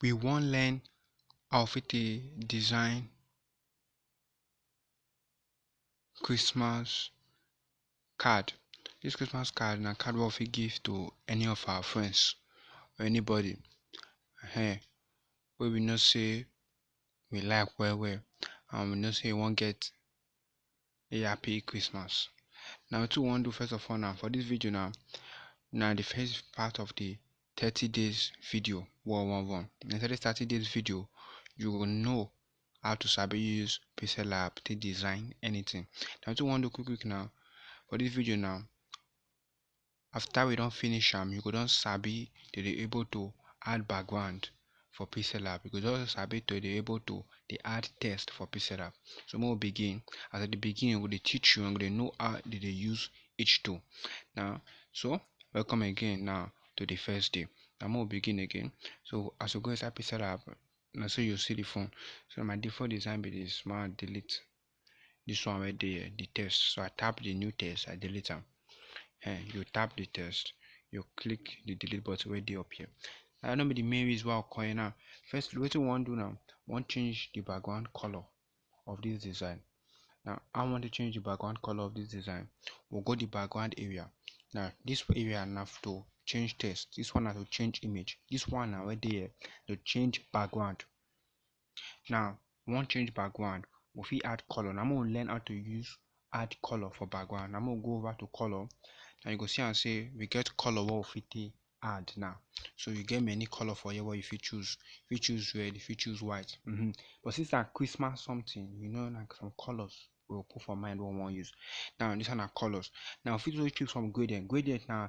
we wan learn how fit dey design Christmas card. Dis Christmas card na card wey we fit give to any of our friends or anybody um wey we know sey we like well well and we know sey e wan get a happy christmas now wetin we wan do first of all now for this video now now the first part of the 30 days video one one one inside this 30 days video you will know how to sabi use pixel lab to design anything now wetin we wan do quick quick now for this video now after we don finish am you go don sabi to dey able to add background for pixellab you go don sabi to dey able to dey add text for pixellab so make we begin as i dey begin we go dey teach you and go dey know how they dey use each tool now so welcome again now to the first day now make we begin again so as we go inside pixellab na so you see the phone so my default design be this ma delete this one wey dey here, the test, so I tap the new test, I delete am um you tap the test, you click the delete button wey dey up here that no be the main reason why we come here now first wetin we wan do now we wan change the background color of this design now how we wan take change the background color of this design we go the background area now this area na to change text this one na to change image this one na wey dey here to change background Now, we wan change background, we fit add color. Na make we learn how to use add color for background. Na make we go over to color. Now, you go see am say we get color wey we fit take add now. So, you get many color for here wey you fit choose. You fit choose red, you fit choose white. Mm-hmm. But since na Christmas something, you know, na some colors we go put for mind wey we wan use. Now, this one na colors. Now, we fit also choose from gradient. Gradient na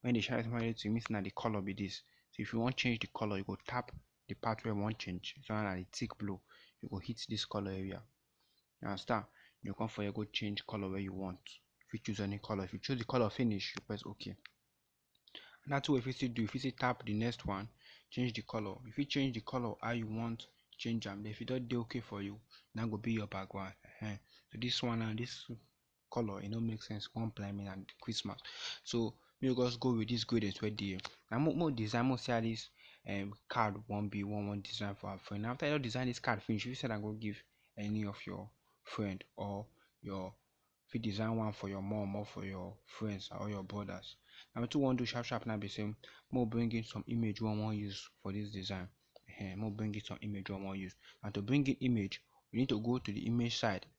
When you dey shine small light, e mean sey na di colour be dis. So if you wan change di colour, you go tap di part wey you wan change. Dis one na di tick blue. You go hit dis colour area. You understand? You go come for here go change colour wey you want. You fit choose any colour. If you choose di colour finish, you press okay. Another thing wey you fit still do, you fit still tap di next one, change di colour. You fit change di colour how you want change am. Den if e don dey okay for you, na im go be your background. Ehen. So dis one now, dis colour e no make sense come blind me and Christmas so me we just go with this grade as well there na mo mo design mo see how this um, card one be one one design for our friend after you don design this card finish you said I go give any of your friend or your if you design one for your mom or for your friends or your brothers now two one do sharp sharp now be same more bring in some image one one use for this design uh, more bring in some image one one use and to bring in image we need to go to the image side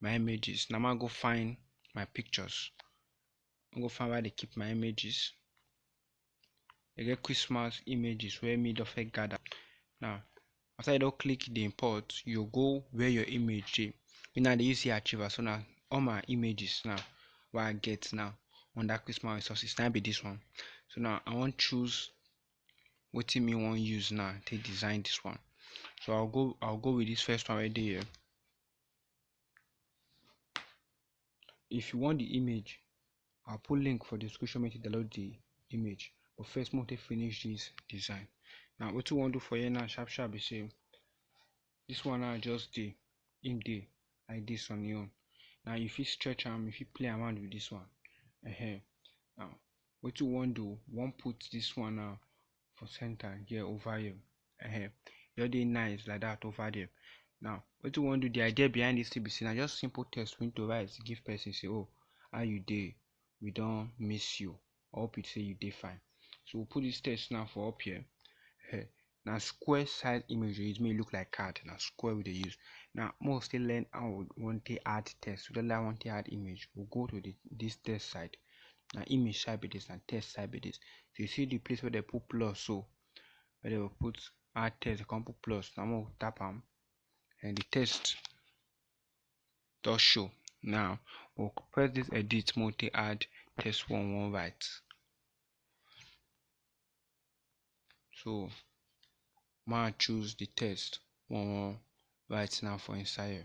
my images na ma go find my pictures i go find where i dey keep my images i get christmas images wey me don first gather now after you don click the import you go where your image dey me now dey use here achiever so na all my images now wey i get now under christmas resources na be this one so now i wan choose wetin me wan use now take design this one so i'll go i'll go with this first one right there If you want the image, I'll put link for description make you download the image. But first, make we finish this design. Now, what you want to do for here now, sharp sharp, be say this one now just the in day like this on your own. Now, if you stretch arm, if you play around with this one, uh -huh. now what you want to do, one put this one now for center here over here uh -huh. just dey nice like that over there now what you want to do the idea behind this thing say na just simple text we need to write give person say oh how you dey we don't miss you i hope you say you dey fine so we'll put this text now for up here uh -huh. now square size image it may look like card now square we dey use now more still learn how we want to add text we don't like want to add image we'll go to the, this text side Na image sha be dis, na text sha be dis. If you see the place wey dem put plus so, wey dem put add text, dem come put plus, na make we tap am, and the text don show. Now, we go press this edit make we take add text wey we wan write. So, make I choose the text wey we wan write now for inside here.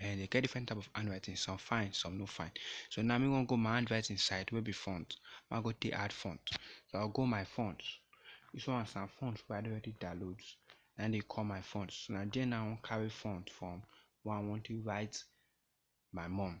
and they get different type of handwriting some fine some no fine so now me wan go my handwriting side wey be font ma go take add font so i'll go my font this one na font wey i don already download na dey call my font so na there now i wan carry font from wey i wan take write my mum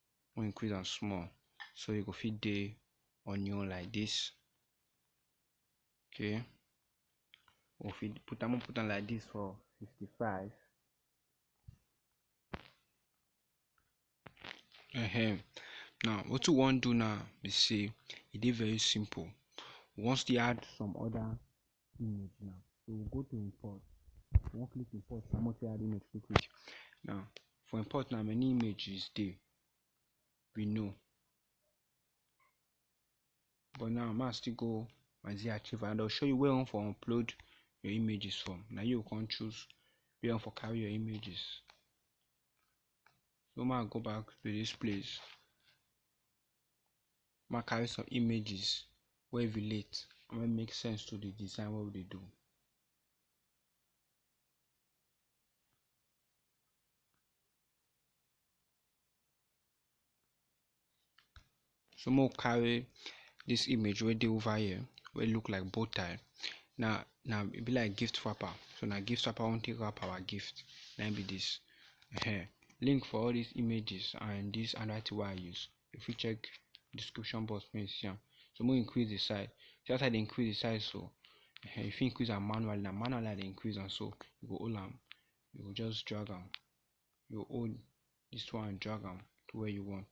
we increase am small so e go fit dey on your own like this okay we fit put am put am like this for 55 uh-huh. now what we want to do now is say it is very simple we want to add some other image now. So we go to import. We wan click import now make we add image quick quick. Now for import now many images dey we know but now ma still go my z archive and I'll show you where on for upload your images from. Now you can choose where on for carry your images. So ma go back to this place Mek I carry some images wey relate and wey mek sense to di design wey we dey do. So mek we carry dis image wey dey over here wey look like bow tie na e be like gift wrapper so na gift wrapper we wan tek wrap our gift na e be dis. um link for all dis images and dis anoda tin wey I use you fit check description box make you see am so make we increase di size see as I dey increase di size so um you fit increase am manually na manually I dey increase am so you go hold am you go just drag am you go hold dis one drag am to where you want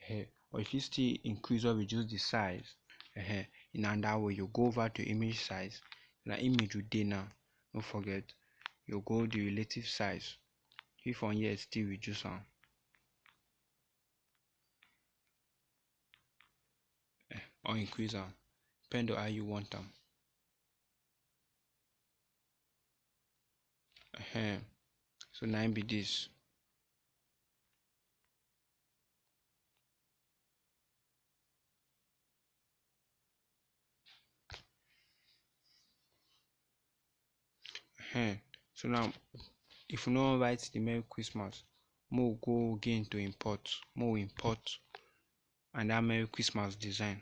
um or you fit still increase or reduce the size um in another way you go over to image size na image we dey now no forget you go the relative size if from here still reduce am um or increase am depend on how you want am um so na im be this Ehen, so now if we no wan write the Merry Christmas, make we go again to import, make we import and that Merry Christmas design.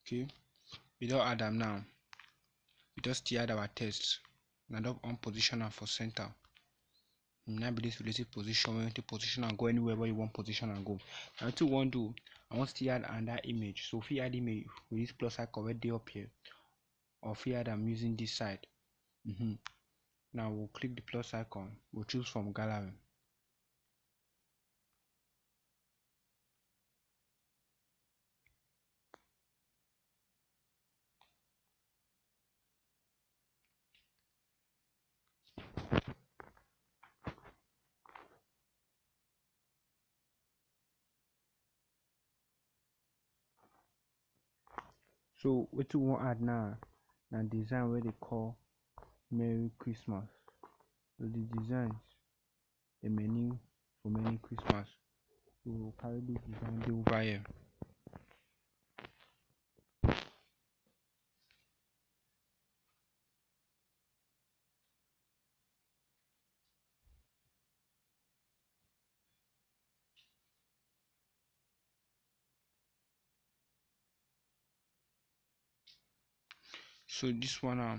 okay we don add am now we don still add our text na don on position am for center na be this relative position wey take position am go anywhere wey you wan position am go na wetin we wan do i wan still add another image so we fit add image with this plus icon wey dey up here or fit add am using this side mm -hmm. now we'll click the plus icon we'll choose from gallery so what you want add now na design wey dey call merry christmas so the designs dem many for many Christmas so carry this design dey over here. so this one now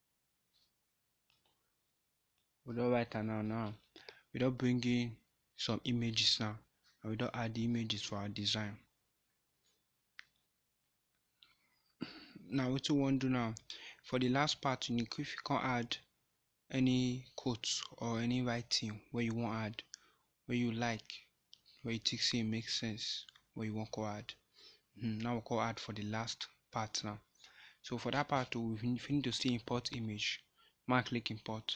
we don write am now now we don bring in some images now and we don add the images for our design now wetin we wan do now for the last part you need if you come add any quote or any writing wey you wan add wey you like wey you think say e make sense wey you wan come add hmm, now we come add for the last part now so for that part we need to still import image ma click import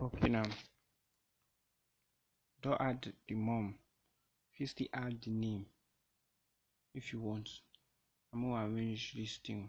okay now don't add the mom you still add the name if you want i'm gonna arrange this thing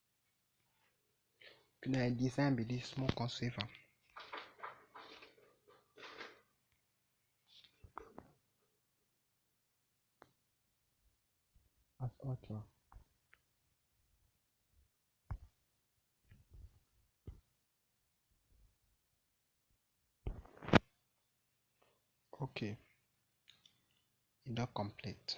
Na im be sign be dis make we come save am. Okay e don complete.